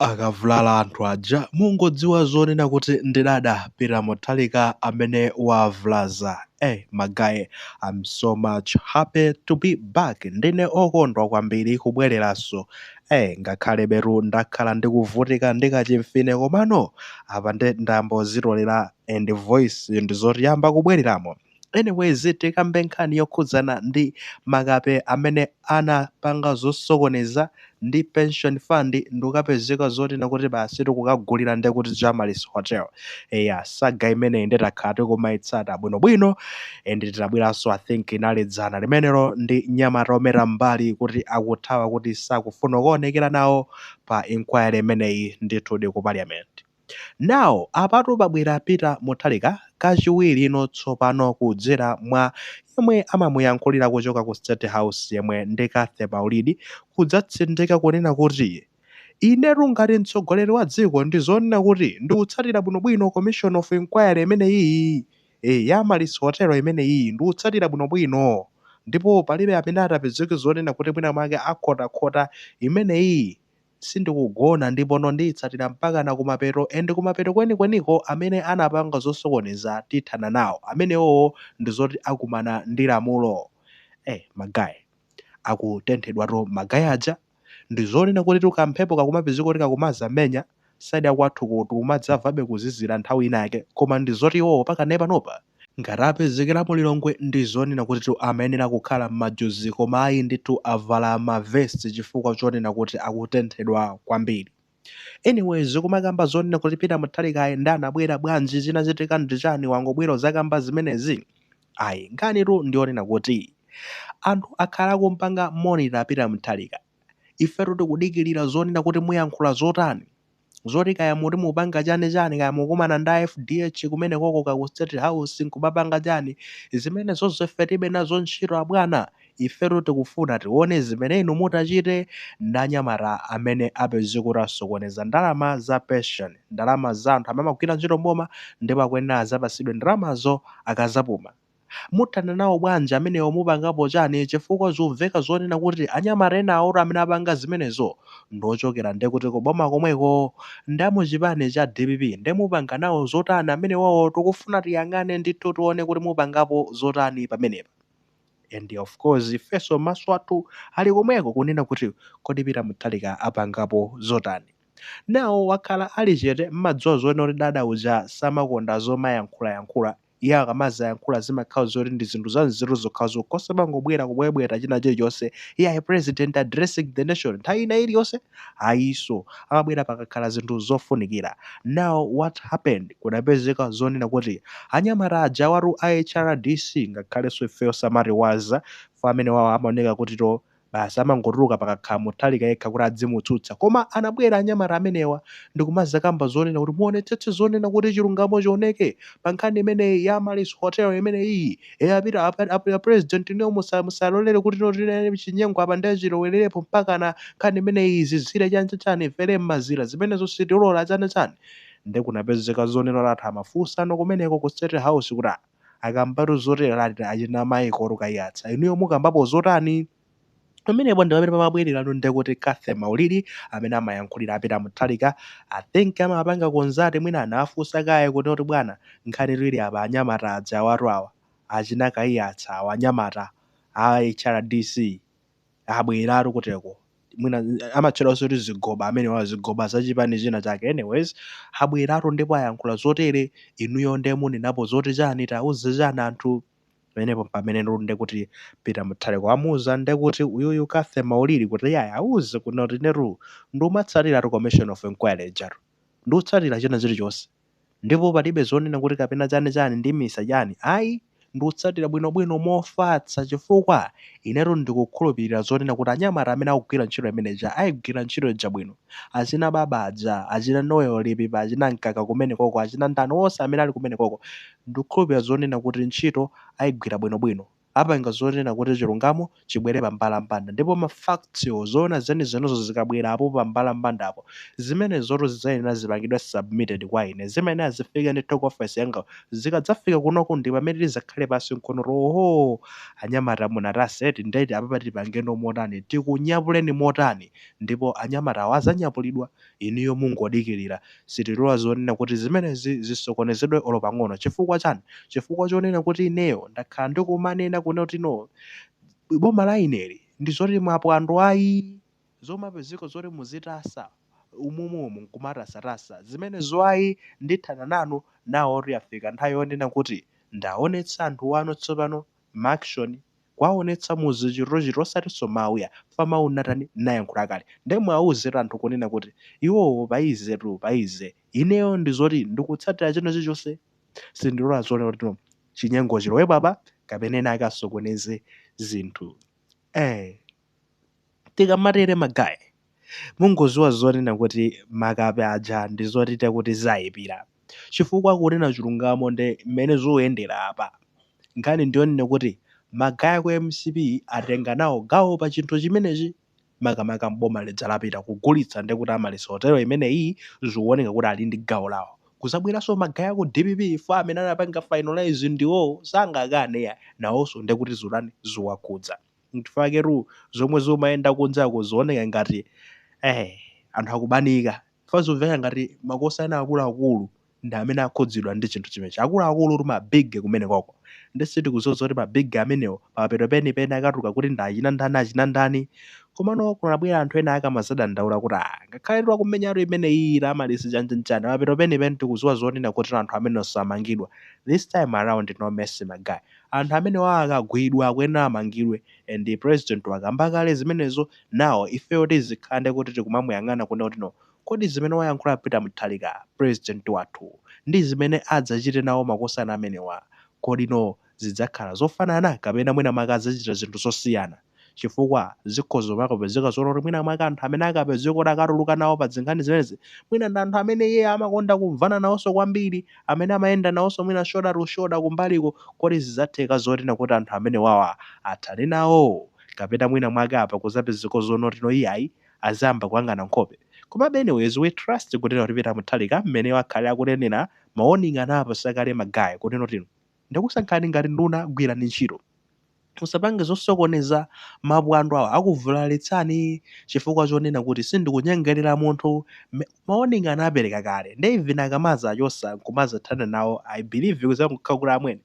akavulala anthu aja mungodziwa zonena kuti ndi dada peter muthalika amene wavulaza eh ma guy I'm so much happy to be back ndine okondwa kwambiri kubwereranso eh ngakhalebetu ndakhala ndikuvutika ndi kachimfine komano apa nde ndayamba kuzitolera and voice ndizoti yamba kubwereramo Anyways tikambe nkhani yokhudzana ndi makape amene anapanga zosokoneza ndi pension fund ndikukapezeka zonena kuti basi tikukagulira ndekuti Amaryllis Hotel. Eya saga imeneyi nde takhala tikumaitsata bwinobwino and tinabweranso I think inali dzana limenelo ndi mnyamata ometa m'mbali kuti akuthawa kuti sakufuna kukaonekera nawo pa inquiry imeneyi ndithudi ku Parliament. Now apatu pabwera Peter Mutharika kachiwirino tsopano kudzera mwa yemwe amamuyankhulira kuchoka ku State House yemwe ndi Cathy Maulidi kudzatsindika kunena kuti Inetu ngati mtsogoleri wa dziko ndi zonena kuti ndikutsatira bwinobwino Commission of Inquiry imeneyiyi ya Amaryllis Hotel imeneyiyi ndikutsatira bwinobwino ndipo palibe amene atapezeke zonena kuti mwina mwake akhotakhota imeneyiyi sindikugona ndipono ndiyitsatira mpakana kumapeto and kumapeto kwenikweniko amene anapanga zosokoneza tithana nawo amenewowo ndizoti akumana ndi lamulo eh ma guy akutenthedwatu ma guy aja ndizonena kutitu kamphepo kakumapezeka kuti kakumazamenya side yakwathuko tikumadzamvabe kuzizira nthawi ina yake koma ndizoti iwowo pakanali panopa Ngati apezekera mu Lilongwe ndizonena kutitu amayenera kukhala mmajuzi koma ayi ndithu avala ma vest chifukwa chonena kuti akutenthedwa kwambiri. Anyways kumakamba zonena kuti Peter Mutharikayi nde anabwera bwanji chinachitika ndichani wangobwera kuzakamba zimenezi? Ayi nkhanitu ndiyonena kuti anthu akhala akumpanga monitor Peter Mutharika ifetu tikudikilira zonena kuti muyankhula zotani? zoti kaya muti mupanga chani chani kaya mukumana ndi a FDH kumenekoko ka ku state house nkumapanga chani zimenezozo ife tilibe nazo ntchito abwana ifetu tikufuna tione zimene inu mutachite ndi anyamata amene apezeke kuti asokoneza ndalama za pension ndalama za anthu amene amagwira ntchito mboma ndipo akuyenera azapasidwe ndalamazo akazapuma Muthana nawo bwanji amenewo mupangapo chani chifukwa zumveka zonena kuti anyamata enawotu amene apanga zimenezo ndiochokera nde kuti ku boma komweko ndi amuchipani cha dpp nde mupanga nawo zotani amenewowo tikufuna tiyang'ane ndithu tione kuti mupangapo zotani pamenepa and of course ifenso maso athu ali komweko kunena kuti kodi peter muthalika apangapo zotani now wakhala ali chete mmadziwa zonena kuti dada uja samakonda zomayankhula yankhula Iye akamazayankhula zimakhala zoti ndi zinthu za nzeru zokhazokha osamangobwera kubwebweta china chilichonse iyayi president addressing the nation nthawi ina iliyonse ayiso amabwera pakakhala zinthu zofunikira now what happened kunapezeka zonena kuti anyamata aja awatu a HRDC ngakhalenso ifeyo samatiwaza fa amenewawa amaoneka kuti to Basi amangotuluka pakakhala Mutharika yekha kuti adzimutsutsa. Koma anabwera anyamata amenewa ndikumazakamba zonena kuti muonetsetse zonena kuti chilungamo chioneke pa nkhani imeneyi ya Amaryllis Hotel imeneyiyi. a president inuyo musalolere kuti no tinene chinyengo apa ndiye chilowelerepo mpakana nkhani imeneyi izizire chani cha chani ifere m'mazira zimenezo sitilola chani chani. Nde kunapezeka zonena kuti anthu amafunsano kumeneko ku State House kuti ah, akambatu zotera ati achina Michael Kaiyatsa inuyo mukambapo zotani? pamenepo ndi pamene pamabwererano ndekuti Cathy Maulidi amene amayankhulira a Peter Mutharika I think amapanga consult mwina anawafunsa kaye kuti oti bwana nkhanitu ili apa anyamata aja awatu awa achina Kaiyatsa awa anyamata a HRDC abweratu kuteko mwina amatchedwanso kuti zigoba amenewa zigoba za chipani china chake anyways abweratu ndipo ayankhula zotere inuyo nde munenapo zoti chani tauze chani anthu pamenepo pamene nde kuti peter mutharika wamuuza nde kuti uyuyu Cathy Maulidi kuti iyayi auze kuno kuti inetu ndikumatsatiratu commission of inquiry ijatu ndikutsatira china chilichonse Ndipo palibe zonena kuti kapena chani chani ndimisa chani ayi, ndikutsatira bwinobwino mofatsa chifukwa inetu ndikukhulupilira zonena kuti anyamata amene akugwira ntchito imene ija ayigwira ntchito ija bwino. Achina Baba aja, achina Noel Lipipa, achina Mkaka kumenekoko, achina ndani onse amene ali kumenekoko ndikukhulupilira zonena kuti ntchito ayigwira bwinobwino. apanga zonena kuti chilungamo chibwere pa mbalambanda ndipo ma facts wo, zoona zenizenizo zikabwera apo pa mbalambandapo, zimenezotu zidzayenera zipangidwe submitted kwa ine, zidzayenera zifike ndithu ku office yanga, zikadzafika kunoku ndi pamene tidzakhale pansi nkuona kuti ohoo anyamata munatasa eti, nde apapa tipangeno motani, tikunyapuleni motani ndipo anyamatawa adzanyapulidwa Inuyo mungodikilira. Sitilola zonena kuti zimenezi zisokonezedwe olo pang'ono. Chifukwa chani? Chifukwa chonena kuti ineyo ndakhala ndikumanena kunena kuti no boma la ineli ndi zoti mwaphwando ayi. Zomapezeka zoti muzitasa umomuomu nkumatasatasa zimenezo ayi. Ndithana nanu. Now tu yafika nthawi yonena kuti ndaonetsa anthu wanu tsopano. Ma action kuwaonetsa muzochitochita osatinso mawu ya fa mawu natani nayankhula kale nde muwawuzetu anthu kunena kuti iwowo payizetu payize ineyo ndizoti ndikutsatira china chilichonse sindilola zonena kuti no chinyengo chilowepo apa kapena enaake asokoneze zinthu eh. Tikamatere magaye, mungoziwa zonena kuti makape aja ndi zotite kuti zayipira. Chifukwa kunena chilungamo ndi mmene zuyendera apa, nkhani ndi yonena kuti magaye aku mcp atenga nawo gawo pa chinthu chimenechi, makamaka m'boma lija lapita kugulitsa nde kuti Amaryllis hotelo imeneyi, zikuwoneka kuti ali ndi gawo lawo. Kuzabweranso magaye aku dpp chifukwa amene anapanga finalise ndiwowo, sangakane iyayi, nawonso nde kuti zutani, zuwakhudza. Nchifaketu zomwe zumayenda kunjako zuoneka ngati eeh anthu akubanika chifukwa zumveka ngati makosana akuluakulu ndi amene akhudzidwa ndi chinthu chimenechi. Akuluakulutu ma big kumenekoko. Nde sitikuziwa zoti ma big amenewo pamapeto penipeni akatuluka kuti ndi achina ndani achina ndani. Komano kunabwera anthu ena akamazadandaula kuti aah ngakhaletu akumenyatu imeneyiyi ya Amaryllis chanchanchani pamapeto penipeni tikuziwa zonena kuti anthu amenewo samangidwa. This time around no mercy ma guy. Anthu amenewa akagwidwa akuyenera amangidwe and president wakamba kale zimenezo now ifeyo tizikhande kuti tikumamuyang'ana kunena kuti no kodi zimene wayankhula Peter Mutharika president wathu ndizimene adzachite nawo makosana amenewa kodi no zidzakhala zofanana kapena mwina mwake adzachita zinthu zosiyana chifukwa zikhoza kumakapezeka zonena kuti mwina mwake anthu amene akapezeke kuti akatuluka nawo pa zinkhani zimenezi, mwina ndi anthu amene iyeyo amakonda kumvana nawonso kwambiri, amene amayenda nawonso mwina shoulder to shoulder kumbaliko. Kodi zidzatheka zoti nkuti anthu amenewawa athane nawo? Kapena mwina mwake apa kudzapezeka zonena kuti no iyayi, azayamba kuyang'ana nkhope? Komabe anyways, we trust kunena kuti Peter Mutharika mmene wakhala akunenera, ma warning anawapatsa kale ma guy kunena kuti. Ndakusankhani ngati nduna, gwirani ntchito. Musapange zosokoneza mapwando awo. Akuvulalitsani chifukwa chonena kuti sindikunyengerera munthu, ma warning anapereka kale nde even akamazawachosa nkumazathana nawo I believe kuzangokhala kuti amwene.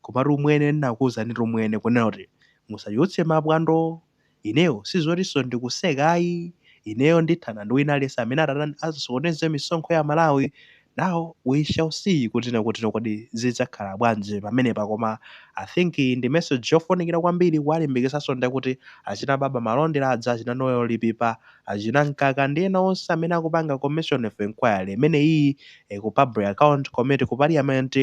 Komatu umwene ndinakuuzanitu umwene kunena kuti musachotse mapwando. Ineyo sizotinso ndikuseka ayi, ineyo ndithana ndi wina aliyense amene atatani, asokoneze misonkho ya Malawi, now we shall see kuti na kuti kodi zidzakhala bwanji pamenepa koma I think ndi message yofunikira kwambiri kuwalimbikitsanso nde kuti achina Baba Malondera aja, achina Noel Lipipa, achina Mkaka ndi ena onse amene akupanga commission of enquiry imeneyiyi ku public account committee ku parliament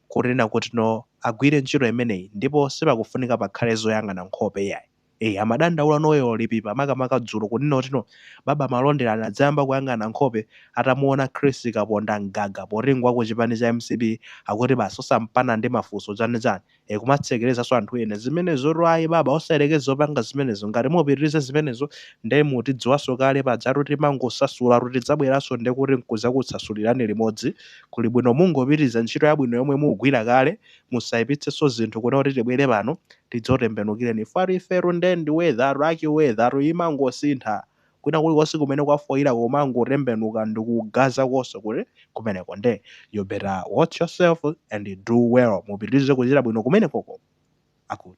kunena kuti no agwire ntchito imeneyi ndipo sipakufunika pakhale zoyang'ana nkhope iyayi ee amadandaula Noel Lipipa makamaka dzulo kunena kuti no baba malondera anadzayamba kuyang'ana nkhope atamuona Chris kaponda mgaga poti ngwaku chipani cha mcp akuti basi osampana ndi mafunso chani chani ee kumatsekerezaso anthu ena zimenezotu ayi baba osayerekeze zopanga zimenezo ngati mupitirize zimenezo nde mutidziwaso kale pajatu timangosasulatu tidzabweraso ndekuti nkuzakutsasulirani limodzi Kuli bwino mungopitiriza ntchito yabwino yomwe mukugwira kale, musaipitsenso zinthu kuno kuti tibwere pano tidzakutembenukireni chifukwa ifetu nde ndi weather rake weather tu imangosintha, kwina kulikonse kumene kwafoira kumangotembenuka ndikugazakonso kuti kumeneko nde you better watch yourself and do well mupitirize kuchita bwino kumenekoko. Akut.